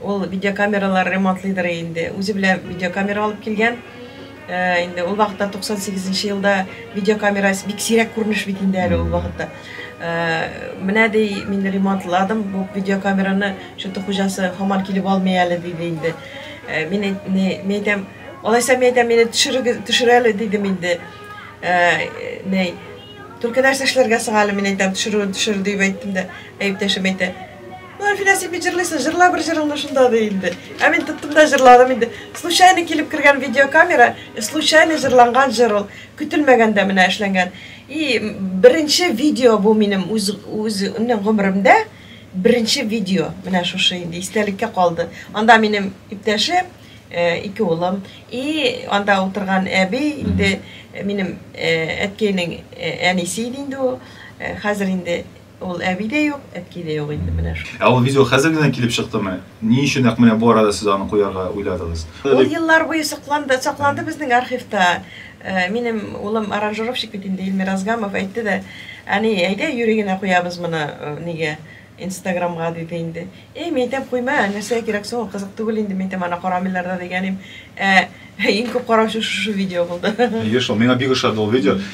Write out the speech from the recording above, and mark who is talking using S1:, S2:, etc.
S1: Ул видеокамералар ремонтлыйдыр инде. Үзе белән видеокамера алып килгән. Э, инде ул вакытта 98 нче елда видеокамера бик сирәк күренеш бит инде әле ул вакытта. Э, менә ди мин ремонтладым бу видеокамераны, что-то хуҗасы һаман килеп алмый әле диде инде. Э, мин әйтәм, алайса мин әйтәм, мине төшерегез, төшерәле дидем инде. Ней, только нәрсә эшләргә соң әле мин әйтәм, төшерүен төшер дип әйттем дә, әйптәшем әйтә, Ну, Әлфинә, син бит җырлыйсың, җырла бер җырыңны шунда ди инде. Ә мин тоттым да җырладым инде. Случайно килеп кергән видеокамера, э, случайно җырланган җыр ул. Көтелмәгәндә менә эшләнгән. И беренче видео бу минем үз үз гомеремдә беренче видео. Менә шушы инде истәлеккә калды. Анда минем иптәшем, э, ике улым и анда утырган әби инде э, минем э, әткәйнең э, әнисе иде инде ул. Э, Хәзер инде Ул әби дә юк, әтки дә юк инде менә шул. Ә ул видео хәзер генә килеп чыктымы? Ни өчен нәкъ менә бу арада сез аны куярга уйладыгыз? Ул еллар буе сокланды, сакланды безнең архивта. Минем улым аранжировщик бит инде, Илмир Азгамов, әйтте дә, Әни, әйдә юри генә куябыз моны нигә, инстаграмга, диде инде. Әй, мин әйтәм, куйма, нәрсәгә кирәк соң ул, кызык түгел инде, мин әйтәм, аны карамыйлар да дигән идем. Ә иң күп караучы шушы видео булды. Әйе шул, миңа бик ошады ул видео.